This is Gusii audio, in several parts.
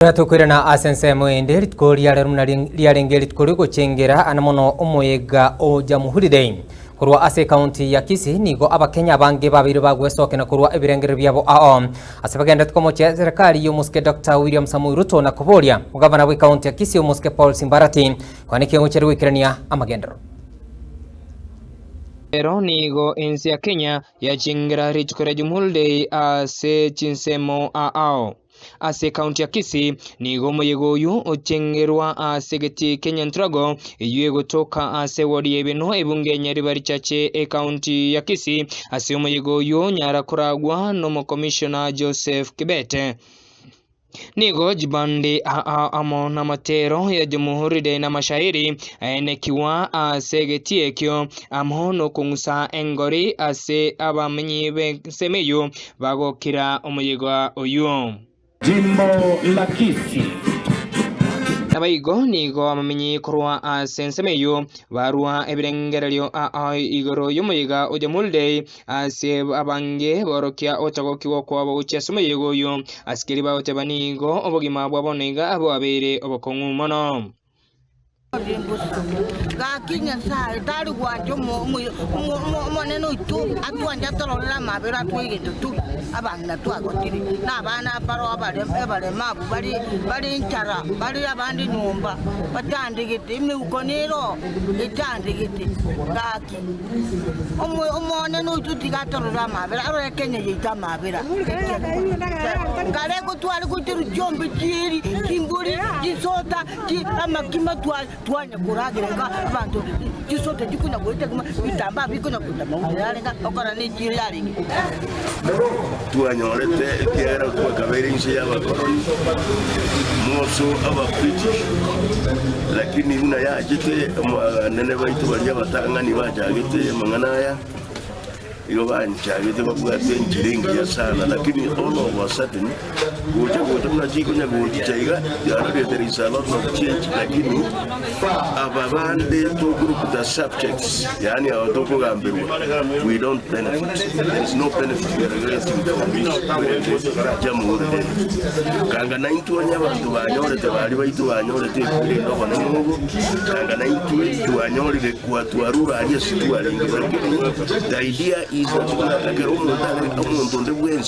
Ekero tokoirana ase ensemo ende, rituko riarero buna riarenge rituko riogochengera ane mono omoyega o Jamhuri Korwa ase ekaunti ya Kisii nigo Abakenya abange babeire bagwesokena korwa ebirengererio biabo ao ase bagenderete komochia serikari y'omosike Doctor William Samoei Ruto na koboria Gavana bw'ekaunti ya Kisii omosike Paul Simbarati kwane ki ogochia goikerania amagenderero. Ero nigo ense ya Kenya yachengera rituko ria Jamhuri Day ase chinsemo ao. Ase ekaunti ya Kisii nigo omoyega oyio ocheng'erwa ase egetii kia Nyantrago eyio egotoka ase ewodi ya Ebeno ebunge ya Nyariba richache ekaunti ya Kisii ase omoyega oyio nyara koragwa nomokomishona Joseph Kibete. Nigo chibande aa amo namatero yachomohorire namashairi aenekigwa ase egetii ekio amo nokong'usa engori ase abamenyi b'ensemo eyio bagokira omoyega oyio. Jimbo Lakishi. Naboigo nigo abamenyi korwa ase ensemo eyio barua ebirengererio igoro y'omoyega o Jamulidei ase abange borokia ogotagokigwa kwabo gochia ase omoyega oyio, asikeri bagoteba nigo obogima bwa bono iga bwabeire obokong'u mono. Gaki Nyasae tari gwancha Omonene oito atwanche atororere amabera atwegenete tore abang'ina twagotire, na abana abare abaremu abwo bare enchara, bare abande nyomba batandegete, emeuko nero etandegete. Gaki. Omonene oito tiga atorore amabera, arore Kenya yaito amabera. Nkareko tware goitera chiombe chieri, chimbori, chisota, chi amakima twa twanya koragira ka abanto chisota chikunya goita kuma bitamba bikunya kuita mauta yarenga okora ne chieri yarenge. Twanyorete ekiagera twakabeire inse y'abakoroni, Mosu Ababritish, lakini buna yachete abanene baito baria abatang'ani bachagete amang'ana aya, igo banchagete babwate enchera engiya sana, lakini all of a sudden Gocha gocha buna chiikonya gochi chaiga chiarorete Risalah not change lakini aba bande tokorukuta subjects yaani aba tokogamberwa we don't benefit there is no benefit we are getting from this jamhuri day kanga naintwe onye abanto banyorete bari baito banyorete ekwirenda obonene obo kanga naintwe twanyorire kwa twarura ari ase twarenge the idea is that ekero omonto are omonto onde bwensi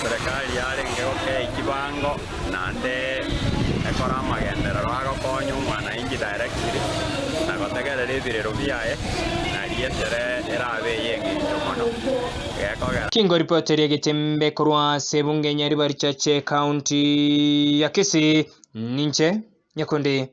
Serekari yarenge gokei chibango naende ekore amagenderero agokonya omwanainchi directly na gotegerera ebirero biaye nari esere erabe ey'engencho mono gekogera Chingoripoteri egetembe korwa ase ebunge ya River-a-Richache ekaunti ya Kisii, ninche Nyakundi Gilbert.